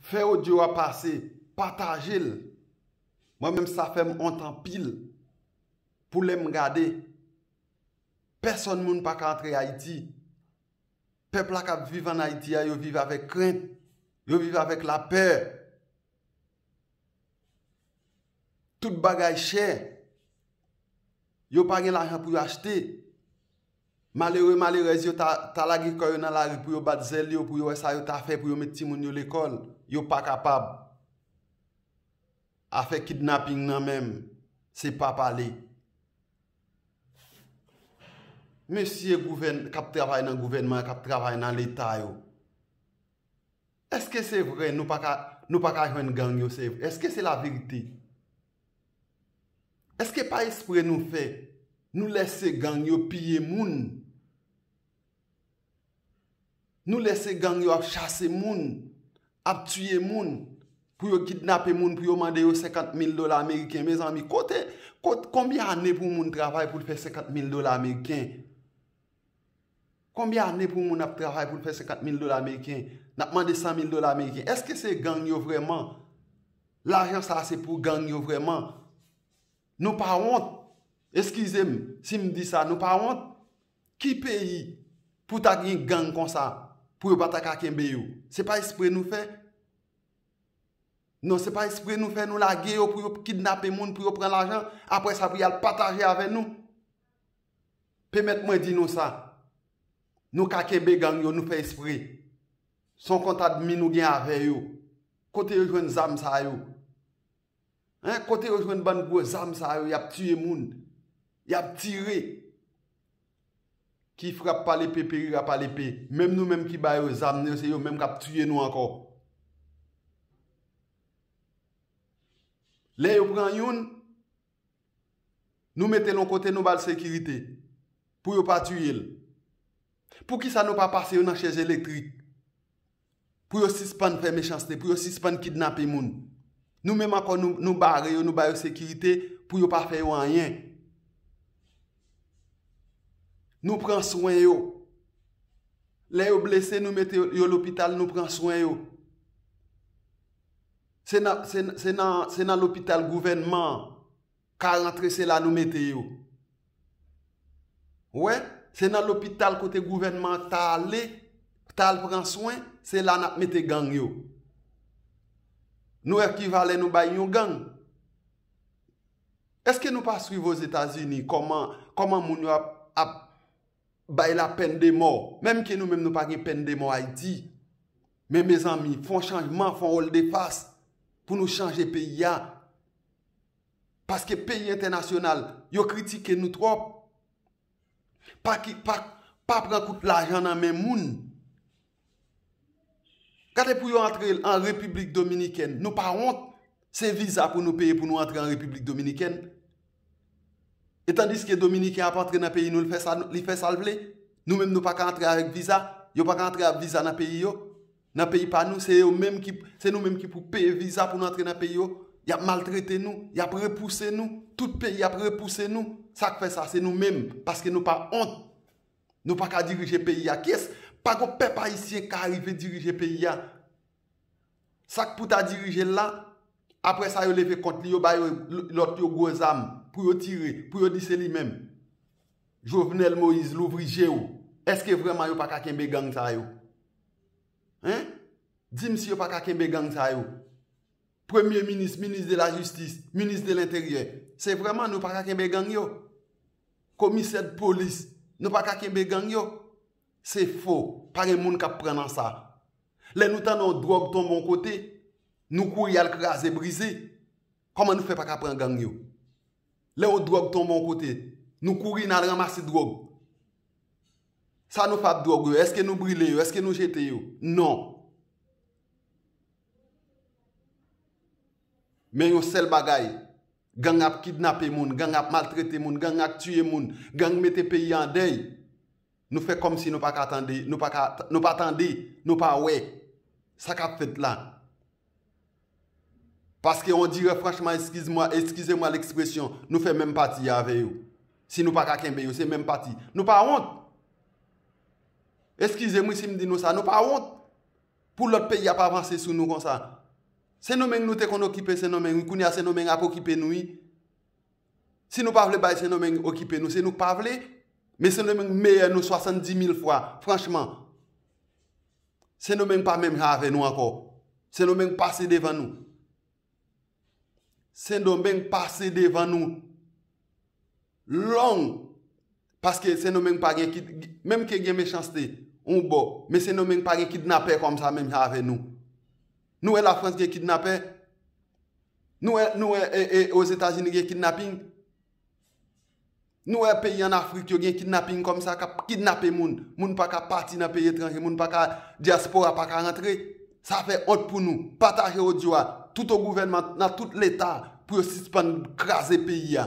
Fè audio a pase, pataje l. Mwen menm sa fè m wont anpil pou lè m gade pèsòn moun pa ka antre Ayiti. Pèp la k ap viv ann Ayiti a yo viv avèk krent, yo viv avèk lapè. Tout bagay chè, yo pa gen lajan pou yo achte. Malere, malerèz yo ta ta lage kò yo nan lari pou yo bat zèl yo, pou yo wè sa yo ta fè pou yo met timoun yo lekòl. Yo pa kapab. Afè kidnaping nan menm, se pa pale. Mesye gouvèn, k ap travay nan gouvènman, k ap travay nan Leta yo, èske se vre nou pa ka, nou pa ka jwenn gang yo se vre? Èske se laverite? Eske pa espre nou fè nou lèse gang yo piye moun nou lèse gang yo ap chase moun ap tiye moun pou yo kidnape moun pou yo mande yo 50 mil dola ameriken mezanmi kote konbyen ane pou moun travay pou l fè 50 mil dola ameriken Konbyen ane pou moun ap travay pou l fè 50 mil dola ameriken, n ap mande 100 mil dola ameriken. Eske se gang yo vrèman? Lajan sa a se pou gang yo vrèman? Nou pa wont? Eskize m si m di sa, nou pa wont? Ki peyi pou ta gen gang konsa pou yo pa ta ka kenbe yo? Se pa espre nou fè? Non se pa espre nou fè nou lage yo pou yo kidnape moun, pou yo pran lajan, apre sa pou y al pataje avè nou? Pèmèt mwen di nou sa, nou ka kenbe gang yo, nou fè espre. Son kont admi nou gen avè yo. Kote yo jwenn zam sa yo? Hein, kote yo jwenn bann gwo zam sa yo yap tiye moun, yap tire? Ki frap pa lepe perira pa lepe. Menm nou menm ki ba yo zam yo, se yo menm kap tiye nou ankò. Lè yo pran youn. Nou metel on kote nou bal sekirite pou yo pa tiyel poukisa nou pa pase yo nan chèz elektrik pou yo sispann fè mechanste pou yo sispann kidnape moun nou menm ankò nou bare yo nou bayo sekirite pou yo pa fè yo anyen nou pran swen yo lè yo blese nou mete yo lopital nou pran swen yo. Se nan se nan se nan lopital gouvènman an ka rantre se la nou mete yo ou wè se nan lopital kote gouvènman an ta ale ta al pran swen se la nap mete gang yo nou wè ki valè nou bay yon gang èske nou pa swiv ozetazini kòman kòman moun yo ap ap Bay la pèn de mò. Menm ke nou menm nou pa gen pèn de mò Ayiti. Men mezanmi, fon chanjman, fon woldefas pou nou chanje peyi a. Paske peyi entènasyonal, yo kritike nou twòp. Pa pran kout lajan nan men moun. Gade pou yo antre an repiblik dominikèn nou pa wont se viza pou nou peye pou nou antre an repiblik dominikèn e tandiske dominiken ap antre nan peyi nou li fè sal vle nou menm nou pa ka antre avèk viza yo pa ka antre avèk viza nan peyi yo nan peyi pa nou se yo menm ki se nou menm ki pou peye viza pou nou antre nan peyi yo yap maltrete nou yap repouse nou tout peyi ap repouse nou sak fè sa se nou menm paske nou pa wont. Nou pa ka dirije peyi a kies? Pa gon pèp ayisyen ka arive dirije peyi a. Sak pou ta dirije l la, aprè sa yo leve kont li yo ba yo lòt yo gwo zam pou yo tire, pou yo di se li menm. Jovenel Moïse louvri je w, eske vrèman yo pa ka kenbe gang sa yo? Hein? Di m si yo pa ka kenbe gang sa yo? Premye minis, minis de la jistis, minis de lenteryè, se vrèman nou pa ka kenbe gang yo? Komisè d polis nou paka kenbe gang yo? Se fo, pa gen moun kap pran nan sa. Lè nou tande yon dwòg tonbe yon kote, nou kouri al kraze brize. Kòman nou fè paka pran gang yo? Lè yon dwòg tonbe yon kote, nou kouri nal ranmase dwòg. Sa nou fè ap dwòg yo, eske nou brile yo, eske nou jete yo? Non. Men yon sèl bagay. Gang ap kidnape moun, gang ap maltrete moun, gang ak tiye moun, gang mete peyi an dèy, nou fè kòmsi nou pa ka tande, nou pa ka, nou pa tande, nou pa wè sa kap fèt la. Paske on dirè franchman eskiz mwa, eskize mwa lekspresyon, nou fè menm pati avè yo. Si nou pa ka kenbe yo, se menm pati. Nou pa wont! Eskize m wi si m di nou sa, nou pa wont! Pou lòt peyi ap avanse sou nou konsa. Sendomeng nou te konn okipe sendomeng wi kounye a sendomeng ap okipe nou wi si nou pa vle bay sendomeng okipe nou se nou k pa vle men sendomeng meyè nou 70 mil fwa franchman sendomeng pa menm jan avè nou ankò sendomeng pase devan nou. Sendomeng pase devan nou long paske sendomeng pa gen menm ke gen mechanste yon bò men sendomeng pa gen kidnapè kòm sa menm jan avè nou nou wè lafrans gen kidnapè nou wè nou wè ozetazini gen kidnaping Nou wè peyi an Afrik yo gen kidnaping kòm sa k ap kidnape moun. Moun pa ka pati nan peyi etranje, moun pa ka, dyaspora pa ka rantre. Sa fè wont pou nou. Pataje odyo a tout o gouvènman, nan tout leta pou yo sispann kraze peyi a.